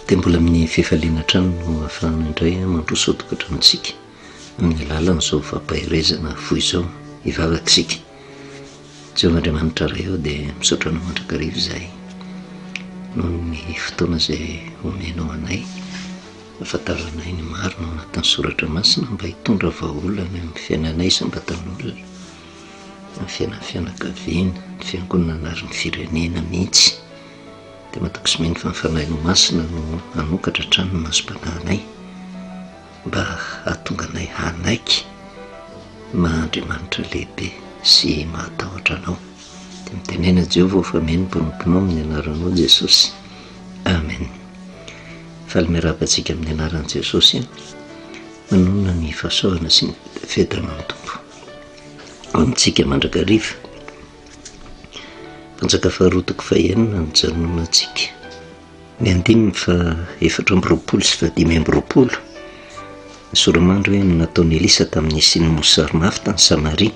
dia mbola amin'ny fifaliana hatrany no hafahana indray mandroso tokantranontsika amin'ny alalan'izao fampaherezana fohy izao hivavaka isika Jehovah Andriamanitra Ray aho dia misaotra anao mandrakariva izahay noho ny fotoana izay omenao anay Ahafantaranay ny marina ao anatin'ny soratra masina mba hitondra vahaolana eo amin'ny fiainanay isam-batan'olona, amin'ny fiainan'ny fianakaviana, ny fiangonana ary ny firenena mihitsy. Dia matahotra mino fa ny Fanahinao Masina no hanokatra hatrany ny masom-panahinay mba hahatonga anay hanaiky ny maha Andriamanitra lehibe sy mahatahotra Anao. Dia mitenena Jehovah aho fa mino ny mpanomponao amin'ny anaranao Jesosy. Amen. Faly miarahaba antsika amin'ny anaran'i Jesosy e! Manonona ny fahasoavana sy ny fiadanan'ny Tompo amintsika mandrakariva. Mpanjaka faharoa toko fahenina ny janona antsika. Ny andininy fa efatra amby roapolo sy fahadimy amby roapolo. Ny soramandry hoe ny nataon'i Elisa tamin'ny hisian'ny mosary mafy tany Samaria.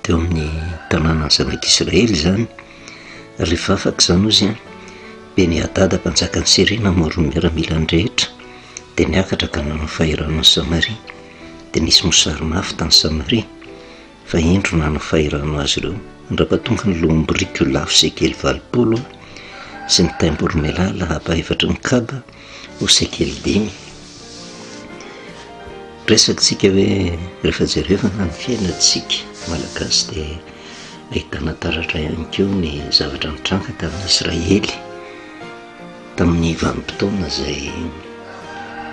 Teo amin'ny tanànan'ny zanak'Israely izany. Rehefa afaka izany hozy an, Beni-hadada mpanjakan'i Syria namory ny miaramilany rehetra dia niakatra ka nanao fahirano an'i Samaria, dia nisy mosary mafy tany Samaria, fa indro nanao fahirano azy ireo an-dra-pahatonga ny loham-biriky ho lafo sekely valopolo sy ny taim-boromailala lapa efatra ny kaba, ho sekely dimy, resatsika hoe rehefa jerevana ny fiainantsika malagasy dia ahitana taratra ihany ko ny zavatra nitranga tamin'ny israely tamin'ny vanimpotoana izay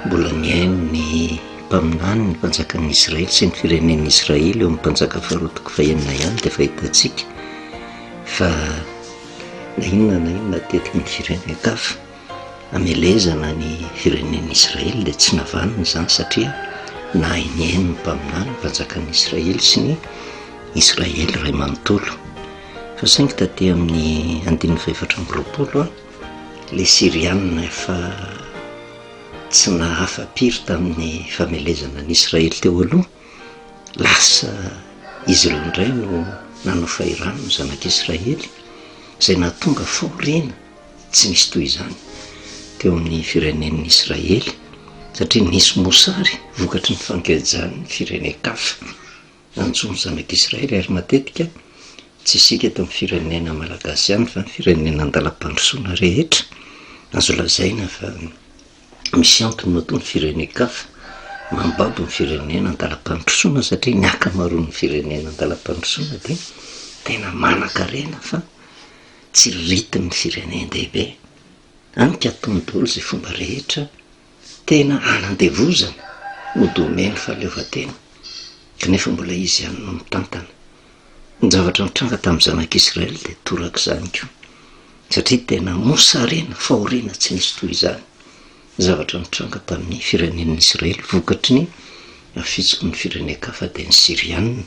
mbola nihaino ny mpaminany ny mpanjakan'ny israely sy ny firenen'ny israely eo amin'ny mpanjaka faharoa toko fahenina ihany dia fahitantsika fa na inona na inona tetiky ny firenen-kafa Hamelezana ny firenen'i Israely dia tsy navaniny izany satria nahay nihaino ny mpaminany, ny mpanjakan'i Israely sy ny Israely iray manontolo. Fa saingy taty amin'ny andininy fahefatra amby roapolo, ilay Syriana efa tsy nahafa-piry tamin'ny famelezana an'i Israely teo aloha, lasa izy ireo indray no nanao fahirano ny zanak'i Israely, izay nahatonga fahoriana Tsy nisy toy izany teo amin'ny firenen'ny Israely, satria nisy mosary vokatry ny fankejan'ny firenen-kafa. Nantsoin'ny Zanak'Israely àry matetika, tsy isika eto amin'ny firenena malagasy ihany, fa ny firenena an-dalam-pandrosoana rehetra. Azo lazaina fa misy antony matoa ny firenen-kafa mambabo ny firenena an-dalam-pandrosoana, satria ny ankamaroan'ny firenena an-dalam-pandrosoana dia tena manankarena fa, Tsy ritin'ny firenen-dehibe. Amika tontolo izay fomba rehetra tena hanandevozana ho domaine fahaleovantena, kanefa mbola izy ihany no mitantana. Ny zavatra nitranga tamin'ny zanak'Israely dia torak'izany koa, satria tena mosarena fahoriana tsy nisy toy izany ny zavatra nitranga tamin'ny firenen'ny Israely vokatry ny fitsiky ny firenen-kafa dia ny Syriana.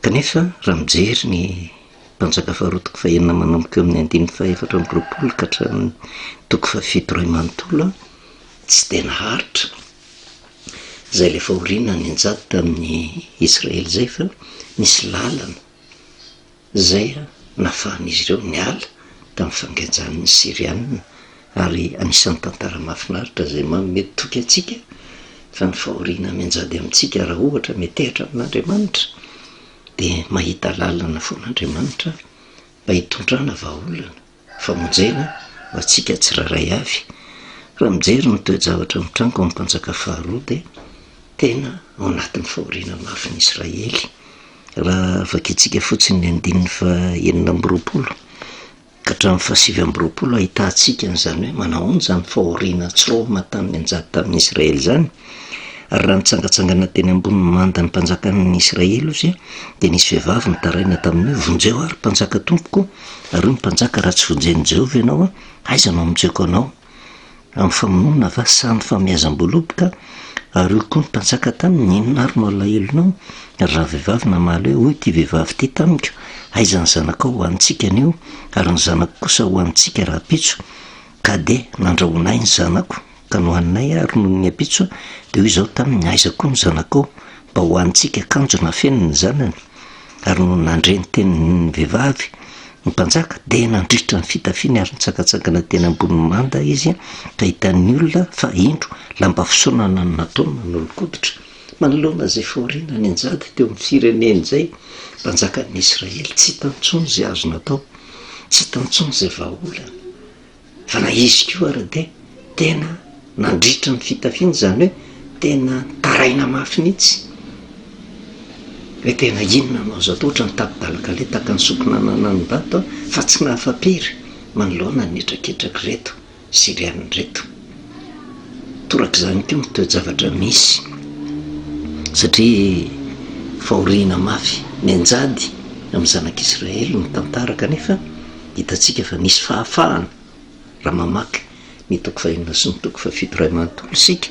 Kanefa, raha mijery ny Mpanjaka Faharoa-toko fahenina manomboka eo amin'ny andininy fahaefatra amby roapolo ka hatramin'ny toko fahafito iray manontolo, tsy dia naharitra izay ilay fahoriana nianjady tamin'ny Israely izay fa nisy lalana izay nahafahan'izy ireo niala tamin'ny fangejan'ny Syrianina. ary anisan'ny tantara mahafinaritra izay manome toky antsika fa ny fahoriana mianjady amintsika raha ohatra metehatra amin'Andriamanitra dia mahita lalana foana Andriamanitra mba hitondrana vahaolana, famonjena ho antsika tsirairay avy. Raha mijery ny toe-javatra mitranga ao amin'ny Mpanjaka faharoa dia tena ao anatin'ny fahoriana mafy ny Israely. Raha vakintsika fotsiny ny andininy fahenina amby roapolo. Hatramin'ny fahasivy amby roapolo ahitantsika an'izany hoe manahoana izany fahoriana tsy romona tamin'ny anjara tamin'ny Israely izany. Ary raha nitsangantsangana teny ambony manda ny mpanjakan'ny Israely ozy dia nisy vehivavy nitaraina taminy hoe, Vonjeo aho ry mpanjaka tompoko, ary hoy ny mpanjaka, Raha tsy vonjen'i Jehovah ianao, aiza no hamonjeko anao? amin'ny famonoana va sa amin'ny fahomehazam-boaloboka? Ary hoy koa ny mpanjaka taminy, Inona ary no alahelonao, ry ravehivavy namaly hoe, Hoy ity vehivavy ity tamiko, Aiza ny zanakao ho antsika anio, ary ny zanako kosa ho antsika rahampitso? Ka dia nandrahona ahy ny zanako, ka nohaninay, ary nony ny ampitso, dia hoy izaho taminy, Aiza koa ny zanakao, mba ho antsika kanjo nafeniny ny zanany? Ary nony nandre ny tenin'ny vehivavy ny mpanjaka dia nandritra ny fitafiany ary nitsangantsangana teny ambonin'ny manda izy ka hitan'ny olona fa indro lamba fisaonana no nataony nanolokoditra manoloana izay fahoriana nianjady teo amin'ny fireneny izay mpanjakan'ny Israely. Tsy hitan-tsony izay azo natao, tsy hitan-tsony izay vahaolana. Fa na izy koa ary dia tena nandritra ny fitafiana, izany hoe tena nitaraina mafy mihitsy hoe tena inona no azo atao, ohatran'ny tapi-balakale tahaka ny sokina ananan'Ivato fa tsy nahafa-pery manoloana ny hetraketrakireto Syriana ireto. Torak'izany koa ny toe-javatra misy satria fahoriana mafy mianjady amin'ny zanak'Israely ny tantara kanefa, Hitantsika fa misy fahafahana raha mamaky ny toko fahenina sy ny toko fahafito iray manontolo isika,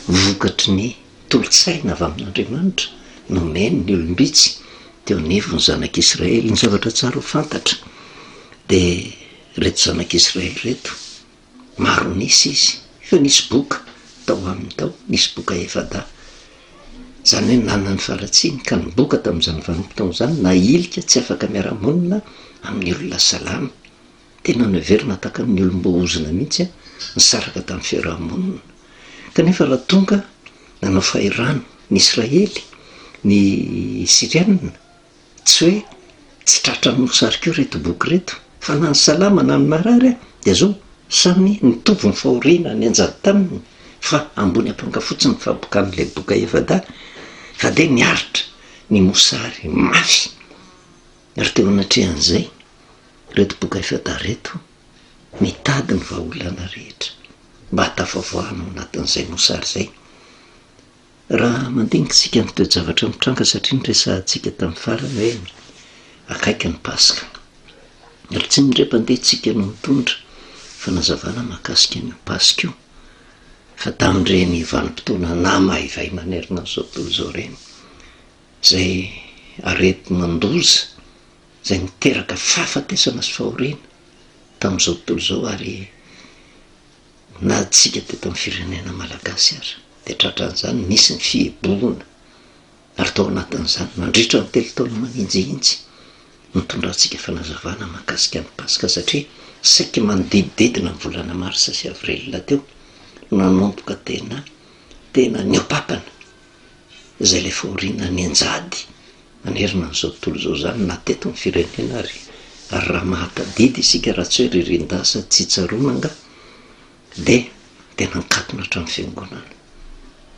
vokatry ny tolo-tsaina avy amin'Andriamanitra nomeny ny olom-bitsy teo anivon'ny zanak'Israely. Ny zavatra tsara ho fantatra dia ireto zanak'Israely ireto Maro nisy izy fa nisy boka tao aminy tao, nisy boka efa-dahy, izany hoe nanana ny faharatsiany ka ny boka tamin'izany vanim-potoana izany nahilika tsy afaka miara-monina amin'ny olona salama. Tena noheverina tahaka amin'ny olom-boaozona mihitsy ny saraka tamin'ny fiaraha-monina. Kanefa raha tonga nanao fahirano ny Israely ny Syriana, Tsy hoe tsy tratra amin'ny mosary koa ireto boky ireto, fa na ny salama na ny marary ary dia zao, samy mitovy ny fahoriana nianjady taminy fa ambony ampanga fotsiny ny fabokan'ilay boka efa-dahy fa dia niaritra ny mosary mafy. Ary teo anatrehan'izay, ireto boka efa-dahy ireto mitady ny vahaolana rehetra mba hatafavoahana ao anatin'izay mosary izay. Raha mandinika isika ny toe-javatra nitranga satria niresahantsika tamin'ny farany hoe akaiky ny Paska. Ary tsy ny indrem-pandehantsika no nitondra fanazavana mahakasika an'io Paska io fa tamin'ireny vanim-potoana namaivay manerana an'izao tontolo izao ireny izay aretina-doza izay niteraka fahafatesana sy fahoriana tamin'izao tontolo izao ary Na antsika teto amin'ny firenena malagasy aza dia tratran'izany, nisy ny fihibohana ary tao anatin'izany nandritra ny telo taona manenjihitsy nitondra antsika fanazavana mahakasika ny Paska satria saiky manodidididina ny volana marsa sy avril teo no nanomboka tena tena niopapana. izay ilay fahoriana nianjady nanerana an'izao tontolo izao izany na teto amin'ny firenena ary. Ary raha mahatadidy isika raha tsy hoe ririndahy sady tsy tsaroana angaha dia tena nikatona hatramin'ny fiangonana.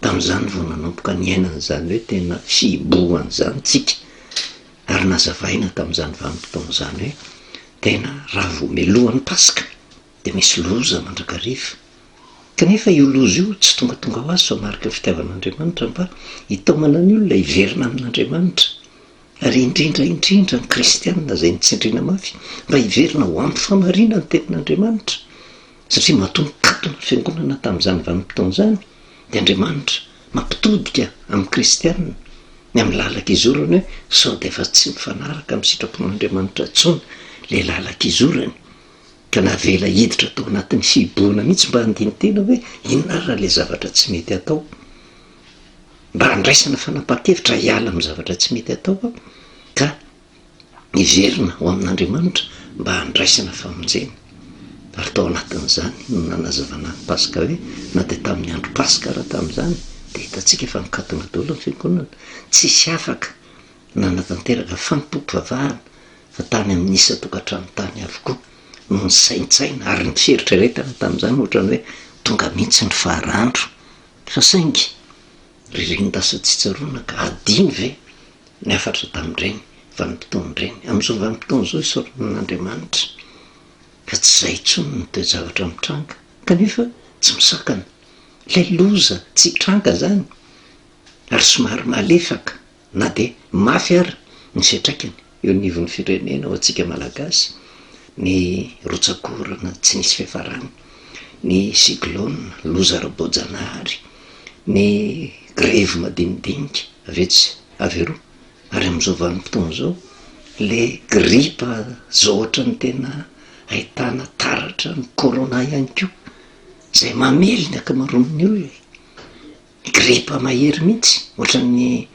Tamin'izany vao nanomboka niaina an'izany hoe tena fihibohana izany tsika ary nazavaina tamin'izany vanim-potoana izany hoe tena raha vao mialohan'ny Paska dia misy loza mandrakariva. Kanefa io loza io tsy tongatonga ho azy fa mariky ny fitiavan'Andriamanitra mba hitaomana ny olona hiverina amin'Andriamanitra, ary indrindra indrindra ny kristiana izay notsindriana mafy mba hiverina ho ampy famarina ny tenin'Andriamanitra, satria matoa nikatona ny fiangonana tamin'izany vanim-potoana izany dia Andriamanitra mampitodika amin'ny kristiana ny amin'ny lalan-kizorany hoe sao dia efa tsy mifanaraka amin'ny sitrapon'Andriamanitra intsony ilay lalan-kizorany. ka navela hiditra tao anatin'ny fihibohana mihitsy mba handini-tena hoe inona ary raha ilay zavatra tsy mety atao? Mba handraisana fanapahan-kevitra hiala amin'ny zavatra tsy mety atao aho ka hiverina ho amin'Andriamanitra mba handraisana famonjena. Ary tao anatin'izany no nanazavana ny Paska hoe na dia tamin'ny andro Paska ara tamin'izany dia hitantsika fa nikatona daholo ny fiangonana, tsisy afaka nanatanteraka fanompoam-pivavahana fa tany amin'ny isan-tokantrano tany avokoa no nisaintsaina ary ny fieritreretana tamin'izany ohatrany hoe tonga mihitsy ny faharandro, fa saingy ry renidasa tsy tsaroana ka adino ve ny hafatra tamin'ireny vanim-potoan'ireny? Amin'izao vanim-potoana izao isaorana an'Andriamanitra fa tsy izay intsony ny toe-javatra mitranga kanefa tsy misakana ilay loza tsy hitranga izany ary somary malefaka Na dia mafy ary ny fiantraikany eo anivon'ny firenena ho antsika Malagasy ny rotsak'orana tsy nisy fiafarany, ny cyclone, loza ara-boajanahary, ny grevy madinidinika avy etsy avy eroa ary amin'izao vanim-potoana izao le gripa izao ohatran'ny tena ahitana taratra ny corona ihany koa izay mamely ny ankamaroan'ny olona. Gripa mahery mihitsy, ohatran'ny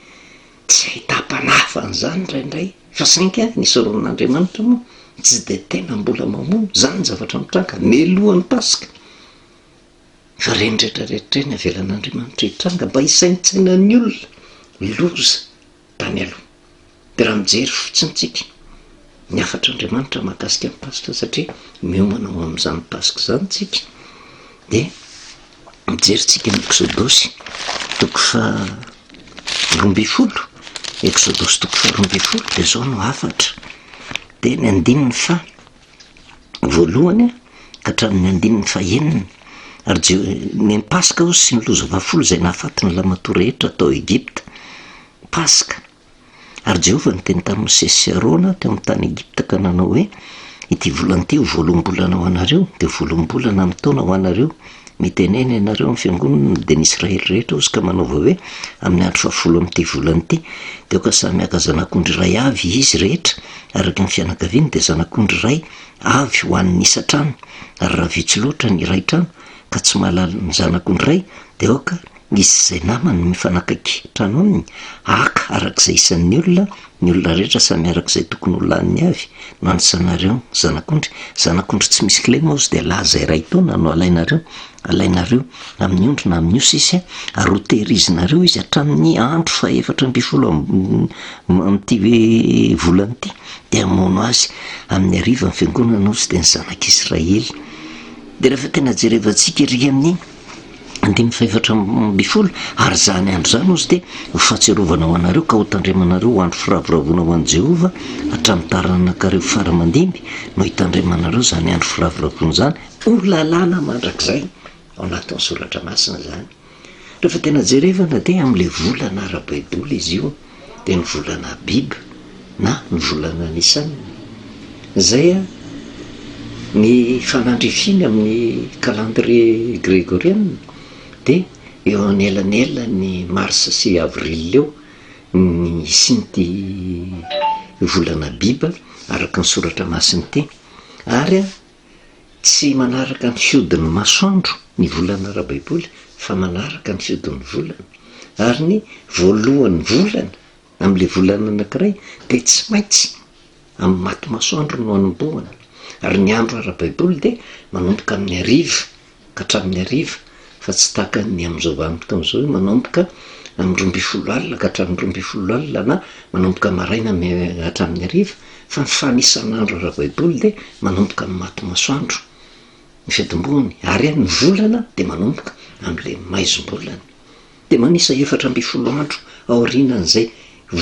tsy ahitam-panahy an'izany indraindray, fa saingy ny Soronin'Andriamanitra moa tsy dia tena mbola mamono izany zavatra mitranga mialohan'ny Paska, fa ireny rehetra rehetra ireny avelan'Andriamanitra hitranga mba hisaintsainan'ny olona loza tany aloha. Dia raha mijery fotsiny tsika ny hafatr'Andriamanitra mahakasika ny Paska satria miomana ho amin'izany Paska izany tsika dia mijery tsika ny Eksodosy toko faharoa ambin'ny folo, Eksodosy toko faharoa ambin'ny folo dia izao no hafatra dia ny andininy faha voalohany ka hatramin'ny andininy fahenina, ary Jeho- ny an'i Paska hozy sy ny loza fahafolo izay nahafaty ny Lamantoa rehetra tao Egypta. Paska. Ary Jehovah niteny tamin'i Mosesy sy Arona teo amin'ny tany Egypta ka nanao hoe, Ity volana ity ho voaloham-bolana ho anareo, dia ho voaloham-bolana amin'ny taona ho anareo. Mitenena ianareo amin'ny fiangonana dia ny Israely rehetra hozy ka manaova hoe, Amin'ny andro fahafolo amin'ity volana ity, dia aoka samy haka zanak'ondry iray avy izy rehetra araka ny fianakaviany, dia zanak'ondry iray avy ho an'ny isan-trano, ary raha vitsy loatra ny iray trano ka tsy mahalala ny zanak'ondry iray, dia aoka Nisy izay namany nifanakaiky tranony haka araka izay isan'ny olona, ny olona rehetra samy araka izay tokony ho laniny avy no anisanareo zanak'ondry, zanak'ondry tsy misy kle moa izy dia laza iray taona no alainareo, alainareo amin'ny ondry na amin'ny osy izy ary ho tehirizinareo izy hatramin'ny andro fahefatra ambin'ny folo amin'ity hoe volana ity dia hamono azy, amin'ny hariva ny fiangonana osy dia ny zanak'israely dia rehefa tena jerevantsika ery amin'ny. andininy fahefatra ambin'ny folo, ary izany andro izany hozy dia ho fahatsiarovana ho anareo ka hotandremanareo ho andro firavoravoana ho an'i Jehovah hatramin'ny taranak'areo fara aman-dimby no hitandremanareo izany andro firavoravoana izany ho lalàna mandrakizay. Ao anatin'ny Soratra Masina izany. Rehefa tena jerevana dia amin'ilay volana ara-baiboly izy io. dia ny volana Abib na ny volana Nisan. Izay ny fanandrifiny amin'ny calendrier gregoriana dia eo anelanelan'ny mars sy avril eo ny hisian'ity volana Abib araka ny soratra masina ity ary Tsy manaraka ny fihodin'ny masoandro ny volana ara-baiboly fa manaraka ny fihodin'ny volana. Ary ny voalohan'ny volana amin'ilay volana anankiray dia tsy maintsy amin'ny maty masoandro no anombohana. Ary ny andro ara-baiboly dia manomboka amin'ny hariva hatramin'ny hariva fa tsy tahaka ny amin'izao vanim-potoana izao hoe manomboka amin'ny roa ambin'ny folo alina ka hatramin'ny roa ambin'ny folo alina na manomboka maraina hatramin'ny hariva fa ny fanisan'andro ara-baiboly dia manomboka amin'ny maty masoandro ny fiatombohany ary ny volana dia manomboka amin'ilay maizim-bolana dia manisa efatra ambin'ny folo andro aorianan'izay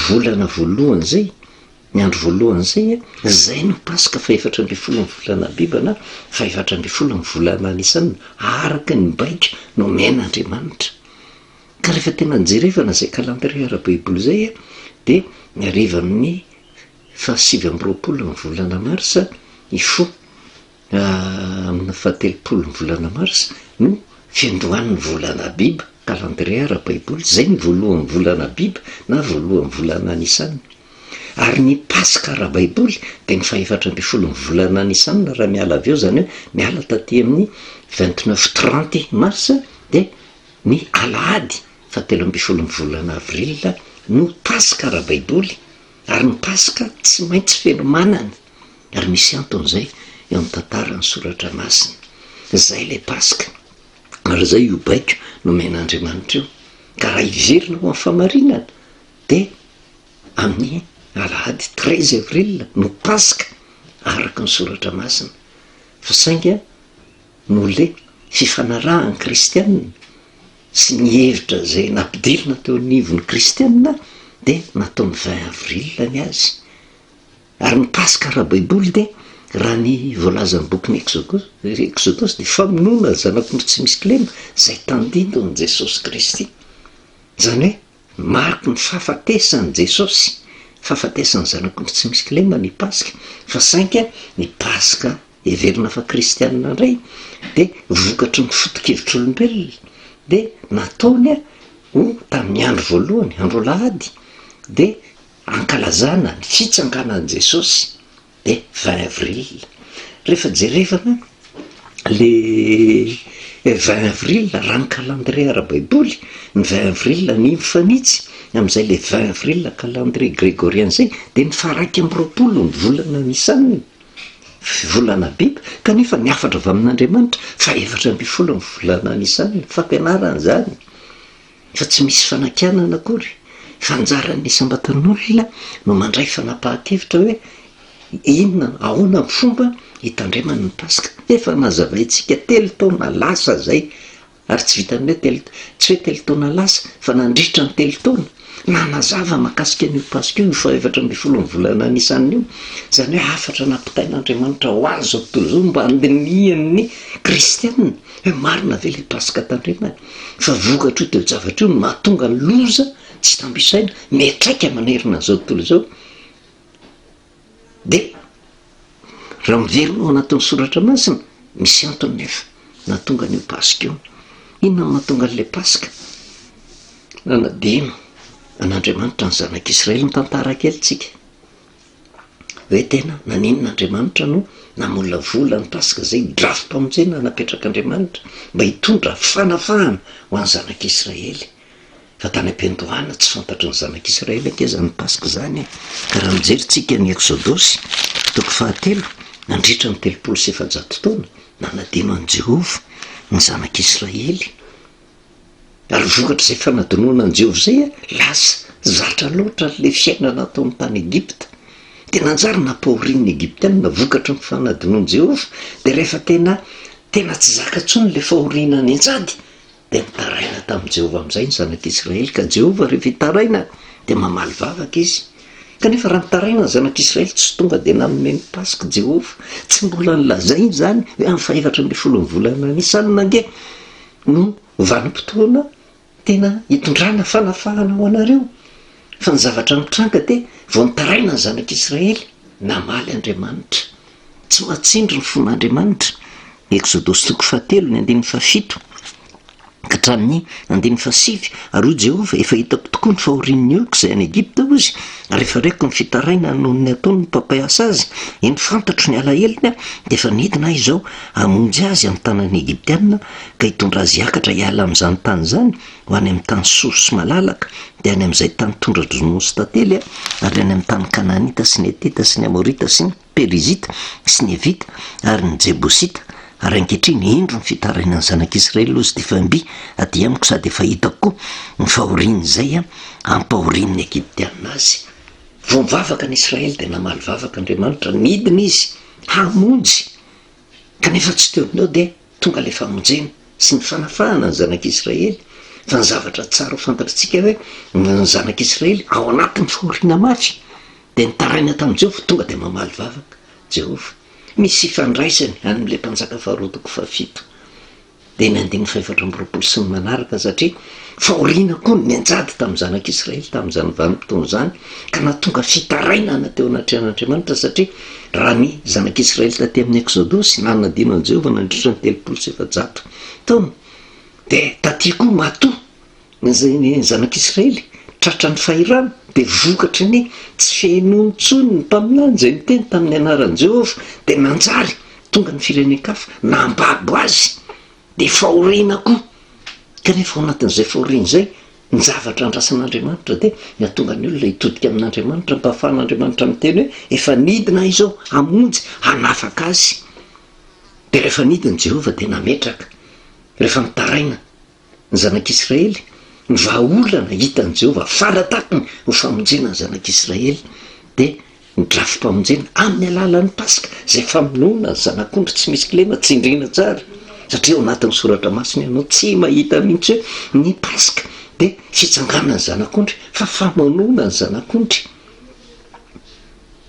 volana voalohany izay Ny andro voalohany izay, izay no Paska fahefatra ambin'ny folo ny volana Abiba na fahefatra ambin'ny folo ny volana Nisana araka ny baiko nomen'Andriamanitra. Ka rehefa tena nijerevana izay calendrier ara-baiboly izay dia ny harivan'ny fahasivy amby roapolo ny volana Marsa, Ifo, Amina fahatelopolo ny volana marsa no fiandohan' ny volana Abiba, kalandrie ara-baiboly, izay ny voalohan' ny volana Abiba na voalohan' ny volana Nisana, ary ny Paska ara-baiboly dia ny fahefatra ambin'ny folo ny volana Nisana raha miala avy eo, izany hoe miala taty amin' ny vingt neuf trente marsa, dia ny alahady fahatelo ambin'ny folo ny volana Avrila no Paska ara-baiboly, ary ny Paska tsy maintsy fenomanana. Ary misy antony izay eo amin'ny tantaran'ny soratra masina. Izay ilay Paska, ary izay io baiko nomen'Andriamanitra io. Ka raha hiverina ho amin'ny famarinana dia amin'ny alahady treize avril no Paska araka ny soratra masina. Fa saingy an, noho ilay fifanarahan'ny kristiana sy ny hevitra izay nampidirina teo anivon'ny kristiana dia nataony vingt avril ny azy. Ary mikasika ara-baiboly dia raha ny voalazan'ny bokin'ny Eksodosy, Eksodosy dia famonoana ny zanak'ondry tsy misy kilema izay tandindon'i Jesosy Kristy. Izany hoe mariky ny fahafatesan'i Jesosy, fahafatesan'ny zanak'ondry tsy misy kilema ny Paska, fa saingy ny Paska heverina fa kristianina indray dia vokatry ny fotokevitr'olombelona dia nataony ho tamin'ny andro voalohany, andro alahady dia Ankalazana ny fitsanganan'i Jesosy dia vingt avril. Rehefa jerevana le vingt avril raha ny calendrier ara-baiboly, ny vingt avril anio mifanitsy amin'izay le vingt avril calendrier gregorien izay dia ny faharaika amby roapolo ny volana Nissan, volana Abib, kanefa ny hafatra avy amin'Andriamanitra fahaefatra ambin'ny folo ny volana Nissan, fampianarana izany. fa tsy misy fanakianana akory fa anjaran'ny isam-batan'olona no mandray fanapahan-kevitra hoe inona ahoana ny fomba hitandremany ny paska, efa nazavaintsika telo taona lasa izay ary tsy vitan'ny hoe telo tsy hoe telo taona lasa fa nandritra ny telo taona nanazava mahakasika an'io paska io ny fahefatra ambin'ny folon'ny volana nisana io, izany hoe hafatra nampitain'Andriamanitra ho an'izao tontolo izao mba handinihan'ny kristiana. Hoe marina ve ilay paska tandrema e? Fa vokatr'io toe-javatra io no mahatonga ny loza tsy tambo isaina miatraika manerana an'izao tontolo izao. Dia raha miverina ao anatin'ny soratra masina, misy antony nefa nahatonga an'io paska io. Inona no mahatonga an'ilay paska? Nanadino an'Andriamanitra ny zanak'Israely. Mitantara kely tsika. hoe tena naninona Andriamanitra no namolavola ny Paska izay drafi-pamonjena napetrak'Andriamanitra mba hitondra fanafahana ho an'ny zanak'Israely. Fa tany am-piandohana tsy fantatry ny zanak'Israely ange izany Paska izany e! Ka raha mijery tsika ny Eksodosy, toko fahatelo, nandritra ny telopolo sy efajato taona, nanadino an'i Jehovah ny zanak'Israely. Ary vokatr'izay fanadinoana an'i Jehovah izay, lasa zatra loatra ilay fiainana tao amin'ny tany Egypta. Dia nanjary nampahorian'ny Egyptianina vokatry ny fanadinoan'i Jehovah. Dia rehefa tena, tena tsy zaka intsony ilay fahoriana nianjady, dia nitaraina tamin'i Jehovah amin'izay ny zanak'Israely. Ka Jehovah rehefa hitaraina, dia mamaly vavaka izy. Kanefa raha nitaraina ny zanak'Israely, tsy tonga dia nanome ny Paska Jehovah. Tsy mbola nolazainy izany hoe amin'ny fahefatra ambin'ny folon'ny volana Nisana ange no vanim-potoana tena hitondrana fanafahana ho anareo, fa ny zavatra mitranga dia vao nitaraina ny zanak'Israely, namaly Andriamanitra. Tsy mahatsindry ny fon'Andriamanitra. Eksodosy toko fahatelo, ny andininy fahafito ka hatramin'ny andininy fahasivy, Ary hoy Jehovah, Efa hitako tokoa ny fahorian'ny oloko izay any Egipta, hoy Izy, ary efa reko ny fitarainany noho ny ataon'ny mpampiasa azy, eny, fantatro ny alahelony, dia efa nidina Ahy izao, Hamonjy azy amin'ny tanan'ny Egyptiana ka hitondra azy hiakatra hiala amin'izany tany izany ho any amin'ny tany soro sy malalaka, dia any amin'izay tany tondra-dry Noa sy tantely, ary any amin'ny tany Kanaanita sy ny Hetita sy ny Amorita sy ny Perizita sy ny Hevita ary ny Jebosita, ary ankehitriny indro ny fitarainan'ny zanak'Israely aloha izity fa mby aty amiko sady efa hitako koa ny fahorian'izay ampahorian'ny Egyptiana azy. Vao nivavaka ny Israely dia namaly vavaka Andriamanitra, nidina izy hamonjy Kanefa tsy teo ho eo dia tonga ilay famonjena sy ny fanafahana ny zanak'Israely. Fa ny zavatra tsara ho fantatr'tsika hoe ny zanak'Israely ao anatin'ny fahoriana mafy dia nitaraina tamin'i Jehovah tonga dia mamaly vavaka Jehovah. Misy ifandraisany amin'ilay mpanjaka Faharoa toko fahafito. dia ny andininy fahefatra amby roapolo sy ny manaraka, satria fahoriana koa no nianjady tamin'ny Zanak'i Israely tamin'izany vanim-potoana izany, ka nahatonga fitarainana teo anatrehan'Andriamanitra, satria raha ny Zanak'i Israely taty amin'ny Eksodosy nanadino an'i Jehovah nandritra ny telopolo sy efajato taona, dia taty koa matoa, Na izay ny zanak'Israely tratran'ny fahirano, dia vokatry ny tsy fihenoany intsony ny mpaminany izay niteny tamin'ny anaran'i Jehovah, dia nanjary tonga ny firenen-kafa nambabo azy, dia fahoriana koa. Kanefa ao anatin'izay fahoriana izay, ny zavatra andrasan'Andriamanitra dia ny hahatonga ny olona hitodika amin'Andriamanitra, mba hahafahan'Andriamanitra miteny hoe, Efa nidina Ahy izao hamonjy, hanafaka azy. Dia rehefa nidina Jehovah dia nametraka, rehefa mitaraina Ny zanak'Israely, ny vahaolana hitan'i Jehovah fara tampony ho famonjena ny zanak'Israely, dia ny drafi-pamonjena amin'ny alalan'ny Paska, izay famonoana ny zanak'ondry tsy misy kilema. Tsindriana tsara, satria ao anatin'ny Soratra Masina ianao tsy mahita mihitsy hoe ny Paska dia fitsanganan'ny zanak'ondry, fa famonoana ny zanak'ondry.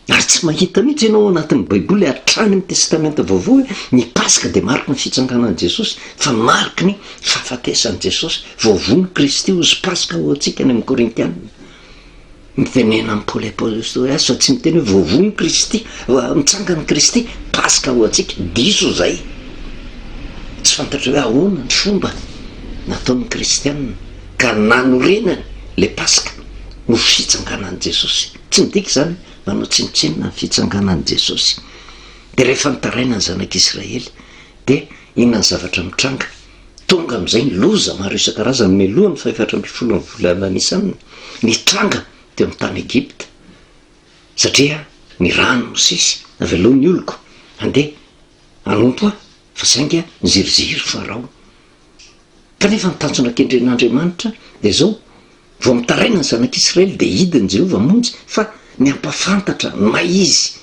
Ary tsy mahita mihitsy ianao ao anatin'ny Baiboly hatrany amin'ny Testamenta Vaovao hoe ny Paska dia mariky ny fitsanganan'i Jesosy, fa mariky ny fahafatesan'i Jesosy vao vono Kristy ho izy Paska ho antsika any amin'ny Korintiana. Mitenena amin'i Paoly Apostoly azy fa tsy miteny hoe vao vono Kristy, mitsangana Kristy, Paska ho antsika. Diso izay. Tsy fantatro hoe ahoana ny fomba nataon'ny Kristiana ka nanorenany ilay Paska ho fitsanganan'i Jesosy. Tsy midika izany hoe manao tsinontsinona ny fitsanganan'i Jesosy. Dia rehefa nitaraina ny zanak'Israely, dia inona ny zavatra mitranga? Tonga amin'izay ny loza maro isan-karazany mialohan'ny fahefatra ambin'ny folon'ny volana Nisana nitranga teo amin'ny tany Egypta, satria ny rany Mosesy avelao ny oloko handeha hanompo ahy, fa saingy niziriziry Farao. Kanefa ny tanjona kendren'Andriamanitra dia izao, Vao mitaraina ny zanak'Israely dia hidiny Jehovah hamonjy, fa ny hampafantatra ny maha izy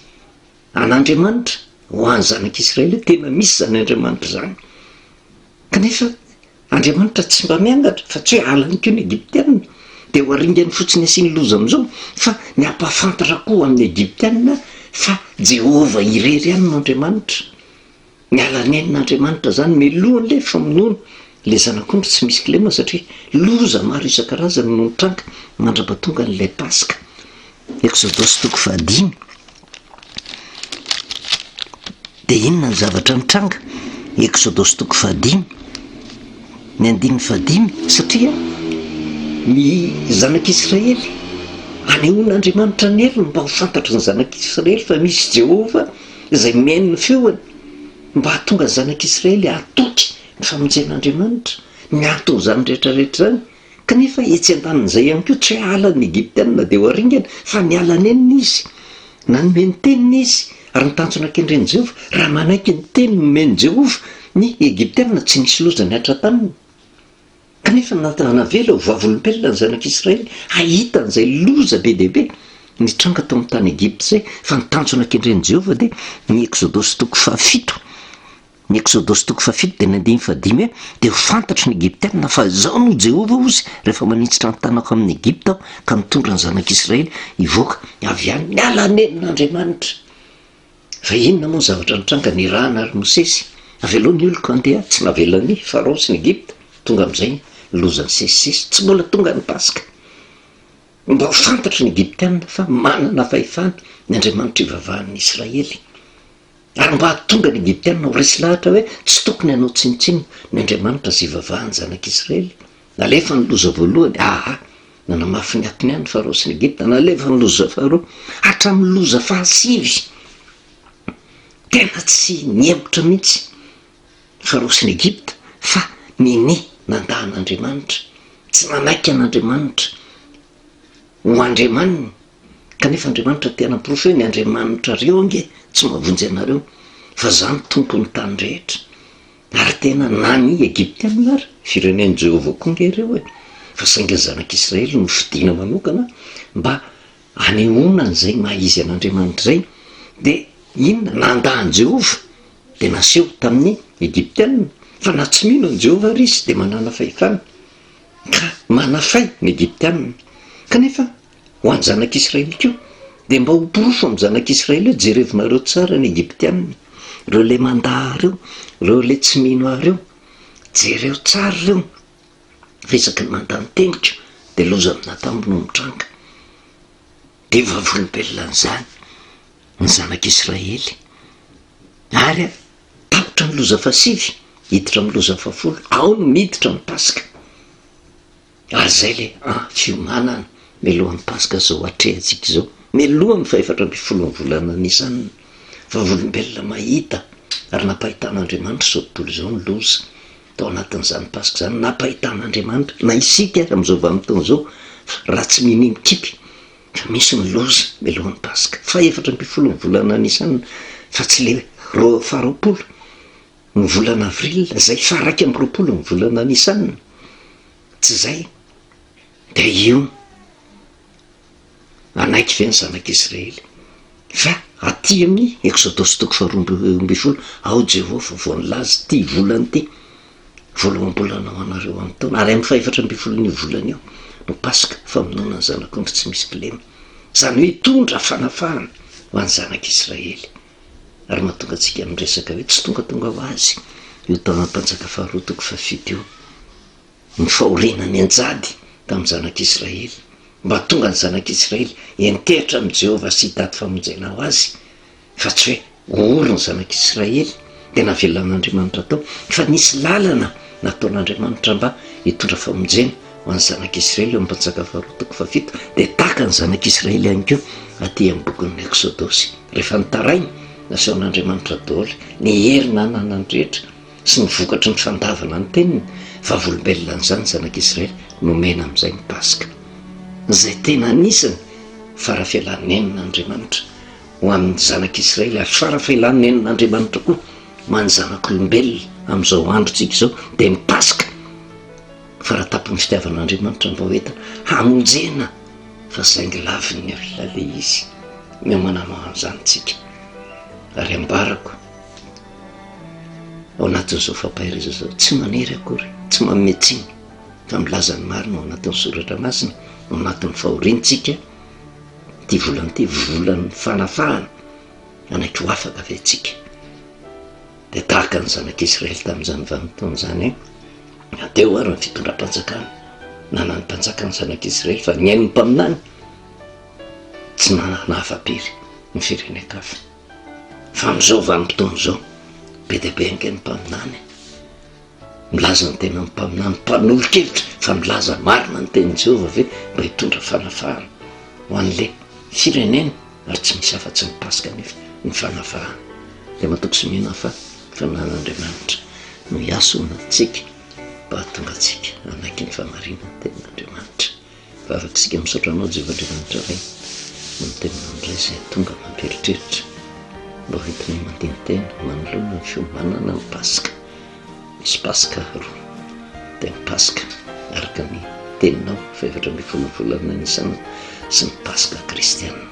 an'Andriamanitra ho an'ny zanak'Israely hoe tena misy izany Andriamanitra izany. Kanefa Andriamanitra tsy mba miangatra, fa tsy hoe halany koa ny Egyptiana, dia ho aringany fotsiny asiany loza amin'izao, fa ny hampafantatra koa ho an'ny Egyptiana fa Jehovah irery ihany no Andriamanitra. Miala nenina Andriamanitra zany miloha anle famonoana le zanak'ondry tsy misy kilema satria loza maro isan-karazany no nitranga mandrapatonga an'ilay Paska. Exodosy toko fahadimy. Dia inona ny zavatra nitranga? Exodosy toko fahadimy. Ny andininy fahadimy satria ny zanak'Israely anehoan'Andriamanitra ny heriny mba ho fantatry ny zanak'Israely fa misy Jehovah izay mihaino ny feony, mba hahatonga ny zanak'Israely hahatoky ny famonjen'Andriamanitra, ny anton'izany rehetrarehetra izany. Kanefa etsy an-danin'izay ihany koa, tsy hoe hahala ny Egyptiana dia ho haringana, fa niala nenina izy, nanome ny teniny izy, ary ny tanjona kendren'i Jehovah, raha manaiky ny teny nomen'i Jehovah ny Egyptiana, tsy nisy loza nihatra taminy. Kanefa ny Natan hanavela ho vavolombelona ny zanak'Israely hahita an'izay loza be dia be nitranga tao amin'ny tany Egypta izay, fa ny tanjona kendren'i Jehovah dia ny Eksodosy toko fahafito. Ny Eksodosy toko fahafito dia ny andininy fahadimy hoe, Dia ho fantatry ny Egyptiana fa izaho no Jehovah hozy rehefa maninjitra ny tanako amin'i Egypta aho ka mitondra ny zanak'Israely hivoaka avy any. Miala any nenina Andriamanitra. Fa inona moa ny zavatra nitranga? Nirahana àry Mosesy. Avy aloha ny oloko handeha, tsy navelan'i Farao sy ny Egypta. Tonga amin'izay ny loza nisesisesy. Tsy mbola tonga ny Paska. Mba ho fantatry ny Egyptiana fa manana fahefana ny Andriamanitra ivavahan'ny Israely. Ary mba hahatonga ny Egyptiana ho resy lahatra hoe tsy tokony hanao tsinontsinona ny Andriamanitra izay ivavahan'ny zanak'Israely. Nalefa ny loza voalohany, aa, nanamafy ny atiny ihany ny Farao sy ny Egypta, nalefa ny loza faharoa, hatramin'ny loza fahasivy, tena tsy nihemotra mihitsy ny Farao sy ny Egypta fa ninia nanda an'Andriamanitra, tsy nanaiky an'Andriamanitra ho Andriamaniny, kanefa Andriamanitra te hanamporofo hoe ny Andriamanitrareo ange tsy mahavonjy anareo fa za no tompon'ny tany rehetra. Ary tena nany Egyptiana ary firenen'i Jehovah koa ange ireo e! Fa saingy ny zanak'i Israely no fidina manokana mba hanehoana an'izay maha izy an'Andriamanitra izay. Dia inona? Nandà an'i Jehovah, dia naseho tamin'ny Egyptiana fa na tsy mino an'i Jehovah ary izy, dia manana fahefana, ka manafay ny Egyptiana. Kanefa ho an'ny zanak'Israely koa. Dia mba ho porofo amin'ny zanak'Israely hoe jerevinareo tsara ny Egyptianina, ireo ilay mandà reo, ireo ilay tsy mino ahy reo, jereo tsara reo fa isaky ny mandà ny teniko dia loza amin'atambo no mitranga. Dia vavolombelona an'izany ny zanak'Israely. Ary tapitra ny loza fahasivy, hiditra amin'ny loza fahafolo, ao no miditra ny Paska. Ary zay le an fiomanana mialohan'ny paska zao atrehantsika izao, mialohan'ny fahefatra ambin'ny folon'ny volana Nisan, vavolombelona mahita ary nampahitan'Andriamanitra izao tontolo izao ny loza, tao anatin'izany paska izany nampahitan'Andriamanitra na isika ary amin'izao vanim-potoana izao fa raha tsy minia mikipy fa misy ny loza mialohan'ny paska fahefatra ambin'ny folon'ny volana Nisan fa tsy le roa faharoapolo Ny volana avril izay faha iraika amby roapolo ny volana Nisan, tsy izay dia io hanaiky ve ny zanak'i Israely fa aty amin'ny Eksodosy toko faharoa ambin'ny folo ao Jehovah vao nilaza ity volana ity, voaloham-bolana ho anareo amin'ny taona, ary amin'ny fahefatra ambin'ny folon'io volana io no Paska, famonoana ny zanak'ondry tsy misy kilema, izany hoe hitondra fanafahana ho an'ny zanak'i Israely. Ary mahatonga antsika miresaka hoe tsy tongatonga ho azy io taona mpanjaka faharoa toko fahafito io ny fahoriana nianjady tamin'ny zanak'Israely, mba hahatonga ny zanak'Israely hiantehitra amin'i Jehovah sy hitady famonjena ho azy, fa tsy hoe ho ory ny zanak'Israely. dia navelan'Andriamanitra tao fa nisy lalana nataon'Andriamanitra mba hitondra famonjena ho an'ny zanak'Israely eo amin'ny mpanjaka faharoa toko fahafito dia tahaka ny zanak'Israely ihany koa aty amin'ny bokin'ny Eksodosy rehefa nitaraina nasehon'Andriamanitra daholo ny hery nananany rehetra sy ny vokatry ny fandavana ny teniny vavolombelona an'izany zanak'Israely nomena amin'izay ny Paska izay tena anisany farafelanenina Andriamanitra ho amin'ny zanak'Israely ary fara fahelany nen'Andriamanitra koa ho an'ny zanak'olombelona amin'izao androntsika izao dia ny Paska, faratapon'ny fitiavan'Andriamanitra ny vahoetany hamonjena fa saingy lavin'ny alina le izy no mananao an'izany tsika ary ambarako ao anatin'izao fampahereza zao tsy manery akory tsy mametsiny fa milaza ny marina ao anatin'ny soratra masina ao anatin'ny fahoriantsika Ity volana ity volan'ny fanafahana, hanaiky ho afaka ve tsika? Dia tahaka ny zanak'Israely tamin'izany vanim-potoana izany, na teo ary ny fitondram-panjakana, na na ny mpanjaka ny zanak'Israely fa ny ain'ny mpaminany tsy nanana afa-pery ny firenen-kafa. Fa amin'izao vanim-potoana izao, be dia be ange ny mpaminany. Milaza ny tenan'ny mpaminany mpanolo-kevitra fa milaza marina ny tenin'i Jehovah ve mba hitondra fanafahana ho an'ilay firenena, ary tsy misy afa-tsy ny Paska anefa ny fanafahana. Dia matoky sy mino aho fa ny Fanahin'Andriamanitra no hiasona antsika mba hahatonga antsika hanaiky ny fahamarinan'ny tenin'Andriamanitra. Vavak'isika misaotra anao Jehovah Andriamanitra Ray noho ny teninao indray izay tonga mampieritreritra mba ho entinay mandini-tena manoloana ny fiomanana ny Paska. Misy Paska roa, dia ny Paska araka ny teninao fahefatra ambin'ny folo ny volana Nisana sy ny Paska kristiana.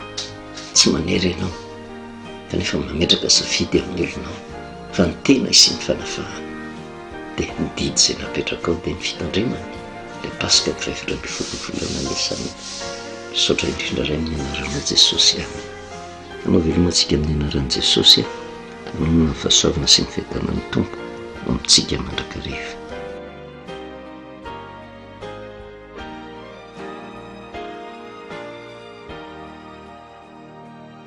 Tsy manery ianao kanefa mametraka safidy amin'ny olonao fa ny tena hisian'ny fanafahana. dia ny didy izay napetrakao dia ny fitandremana ilay Paska vao efatra ambin'ny folo ny volana Nisana. Misaotra indrindra Ray amin'ny anaranao Jesosy. Amen. Anao veloma antsika amin'ny anaran'i Jesosy. Anonona ny fahasoavana sy ny fiadanan'ny Tompo ho amintsika mandrakariva.